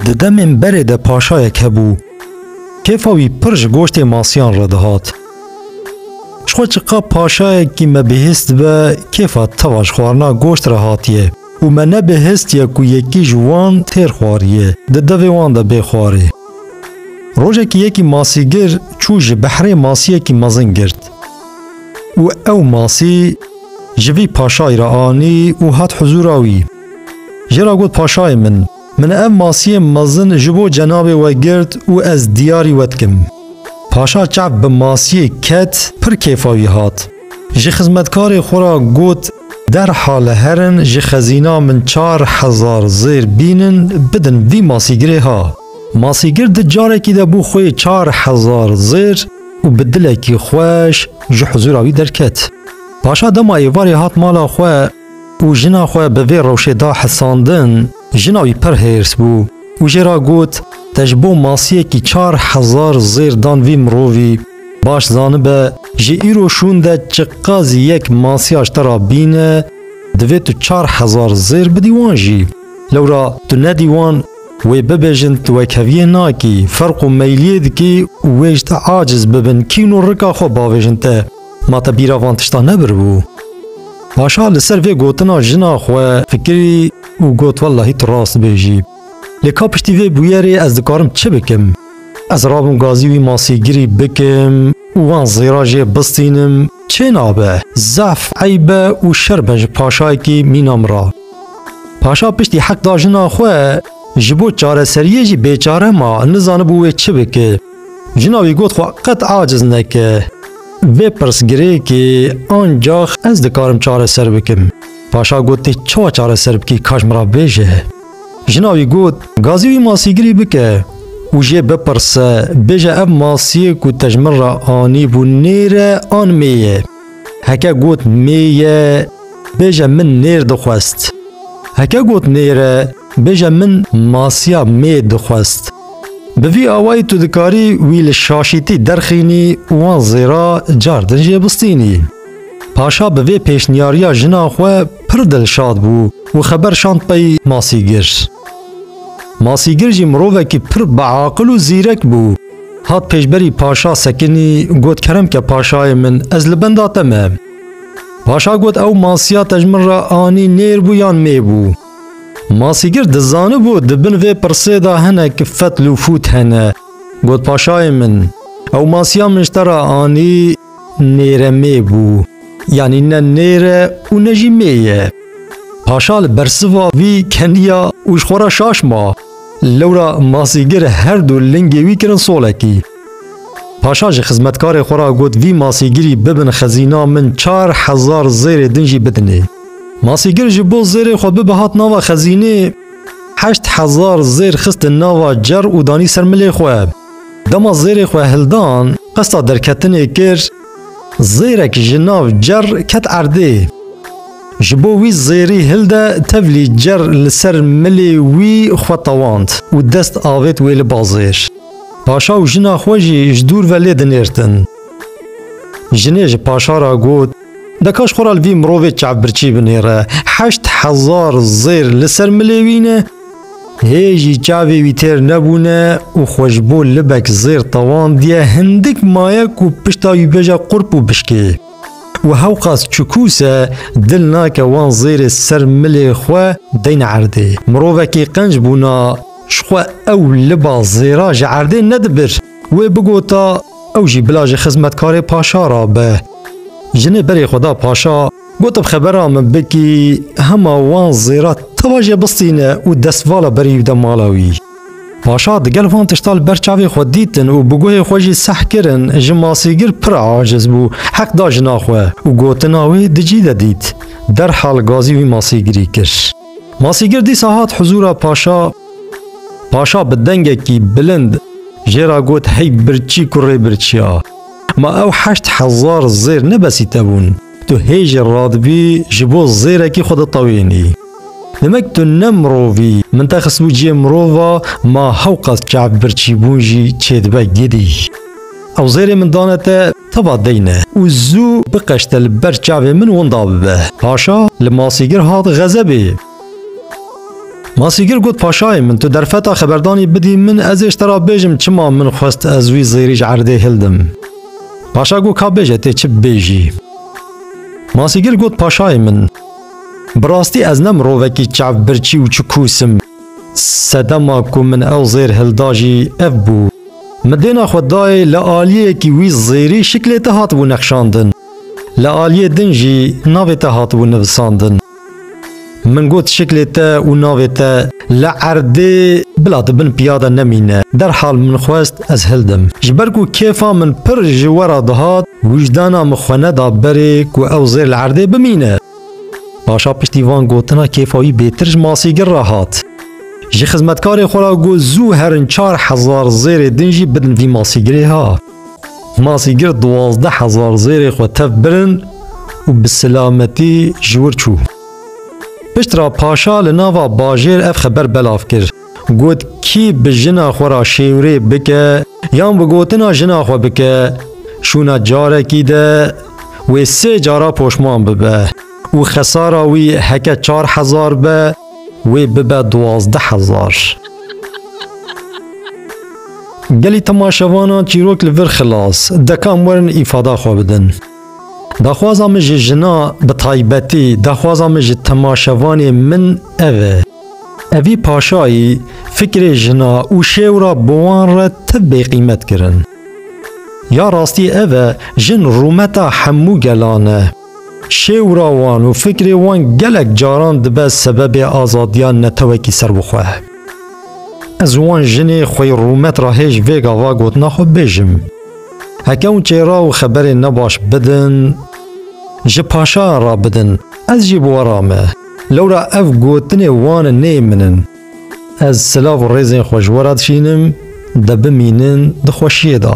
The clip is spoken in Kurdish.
Di demên berê de paşayek hebû. Kêfa wî pir ji goştê masiyan re dihat. Ji xwe çiqap paşayekî me bihîst dibe kêfa teva ji xwarina goşt re hatiye û me nebihîstiye ku yekî ji wan têr xwariye di devê wan de bê xwarê. Rojekî yekî masîgir çû ji behrê masiyekî mezin girt û ew masî Ji vî paşayî re anî û hat huzûra wî. Jê re got paşayê min, min ev masiyên mezin ji bo cenabê we girt û ez diyarî we dikim. Paşa çav bi masiyê ket pir kêfa wî hat. Ji xizmetkarê xwe re got derhal herin ji xezîna min çar hezar zêr bînin bidin vî masîgirê ha. Masîgir di carekî de bû xwê çar hezar zêr û bi dilekî xweş ji huzûra wî derket. Paşa dema êvarê hat mala xwe û jina xwe bi vê rewşê da hesandin, jina wî pir hêrs bû û jê re got, Te ji bo masiyekî çar hezar zêr dan vî mirovî, baş zanibe ji îro şûn de çiqasî yek masiya ji te re bîne, divê tu çar hezar zêr bidî wan jî. Lewra tu nedî wan, Wê bibêjin tu wekheviyê nakî, ferq û meyliyê dikî û wê ji te aciz bibin kîn û rika xwe bavêjin te, ma te bîra van tiştan nebiribû? Paşa li ser vê gotina jina xwe fikirî û got wellahî tu rast dibêjî. Lê ka piştî vê bûyerê ez dikarim çi bikim? Ez rabûm gazî wî masîgirî bikim û wan zêra jê bistînim, çê nabe? Zehf eyb e û şerm e ji paşayekî mîna min re. Paşa piştî heq da jina xwe, ji bo çareseriyê jî bêçare ma, nizanibû wê çi bike. Jina wî got xwe qet aciz neke. Vê pirsgirêkê ancax ez dikarim çareser bikim. Paşa got tê çawa çareser bikî ka ji min re bêje. Jina wî got gazî wî masîgirî bike û jê bipirse bêje ev masiyê ku te ji min re anîbû nêr e an mê ye. Heke got mê ye bêje min nêr dixwest. Heke got nêr e bêje min masiya mê dixwest. Bi vî awayî tu dikarî wî li şaşîtî derxînî û wan zêra car din jê bistînî. Paşa bi vê pêşniyariya jina xwe pir dilşad bû û xeber şand pey Masîgir. Masîgir jî mirovekî pir biaqil û zîrek bû. Hat pêşberî paşa sekinî got keremke paşayê min ez li benda te me. Paşa got ew masiya te ji min re anî nêr bû yan mê bû. Masîgir dizanibû di bin vê pirsê de hinek fetl û fût hene. Got paşayê min ew masiya min ji te re anî nêre mê bû. Yanî ne nêre û ne jî mê ye. Paşa li bersiva vî keniya û ji xwe re şaş ma. Lewra masîgir her du lingê wî kirin solekî. Paşa ji xizmetkarê xwe re got vî masîgirî bibin xezîna min çar hezar zêrê din jî bidinê. Masîgir ji bo zêrê xwe bibe hat nava xezînê heşt hezar zêr xistin nava cer û danî ser milê xwe. Dema zêrê xwe hildan qesta derketinê kir, Zêrek ji nav cer ket erdê. Ji bo wî zêrî hilde tevlî cer li ser milê wî xwe tewand û dest avêt wê li ba zêr. Paşa û jina xwe jî ji dûr ve lê dinêrtin. Jinê ji paşa re got, Dekaş xwe re li vî mirovê çavbirçî binêre. Heşt hezar zêr li ser milê wî ne. Hê jî çavê wî têr nebûne û xwe ji bo libek zêr tewandiye hindik maye ku pişta wî bêje qurp û bişkê. Û hewqas çikûs e dil nake wan zêrê ser milê xwe deyne erdê. Mirovekî qenc bûna jixwe ew liba zêra ji erdê nedibir. Wê bigota ew jî bila ji xizmetkarê paşa ra be. Jinê berê xwe da paşa. Gotim xebera min bikî hema wan zêra teva jê bistîne û destvala berî bide mala wî. Paşa di gel van tişta li ber çavê xwe dîtin û bi guhê xwe jî seh kirin ji masîgir pir aciz bû, heq da jina xwe û gotina wê di cî de dît. Derhal gazî wî masîgirî kir. Masîgir dîsa hat huzûra paşa. Paşa bi dengekî bilind jê ra got hey birçî ku rê birçî a. Ma ew heşt hezar zêr ne besî te bûn. Tu hê jî radibî ji bo zêrekî xwe ditewênî. Demek tu ne mirov î. Min te xistibû cihê mirova ma hewqas çav birçîbûn jî çêdibe gidî. Ew zêrê min dane te teva deyne û zû biqeşte li ber çavê min winda bibe. Paşa li masîgir hat xezebê. Masîgir got paşayê min tu derfeta xeberdanî bidî min ez ê ji te re bêjim çima min xwest ez wî zêrî ji erdê hildim. Paşa got ka bêje tê çi bibêjî. Masîgir got paşayê min bi rastî ez ne mirovekî çav birçî û çikûs im. Sedema ku min ew zêr hilda jî ev bû. Min dêna xwe dayê li aliyekî wî zêrî şiklê te hatibû nexşandin. Li aliyê din jî navê te hatibû nivisandin. Min got şiklê te û navê te li erdê bila di bin piya de nemîne. Derhal min xwest ez hildim. Ji ber ku kêfa min pir ji we re dihat, wijdana min xwe neda berê ku ew zêr li erdê bimîne. Paşa piştî van gotina kêfa wî bêtir ji masîgir re hat. Ji xizmetkarê xwe re got zû herin çar hezar zêrê din jî bidin vî masîgirê ha. Masî girt duwazdeh hezar zêrê xwe tev birin û bi silametî ji wir çû. Piştre paşa li nava bajêr ev xeber belav kir. Got kî bi jina xwe re şêwrê bike yan bi gotina jina xwe bike şûna carekî de wê sê cara poşman bibe û xesara wî heke çar hezar be, Wê bibe duwazdeh hezar. Gelî temaşevanan çîrok li vir xilas dekan werin îfada xwe bidin. Daxwaza min ji jina bi taybetî daxwaza min ji temaşevanê min ev e. Evî paşayî fikrê jina û şêwra bi wan re ti bêqîmet kirin. Ya rastî ev e jin rûmeta hemû gelan e. Şêwra wan û fikrê wan gelek caran dibe sebebê azadiya netewekî serbixwe. Ez wan jinê xwe yê rûmet re hêj vê gava gotina xwe bêjim. Heke hûn çêra û xeberên nebaş bidin, ji paşayan re bidin, ez jî bi we re me. Lewra ev gotinê wan nê min in. Ez silav û rêzên xwe ji we re dişînim, de bimînin di xweşiyê de.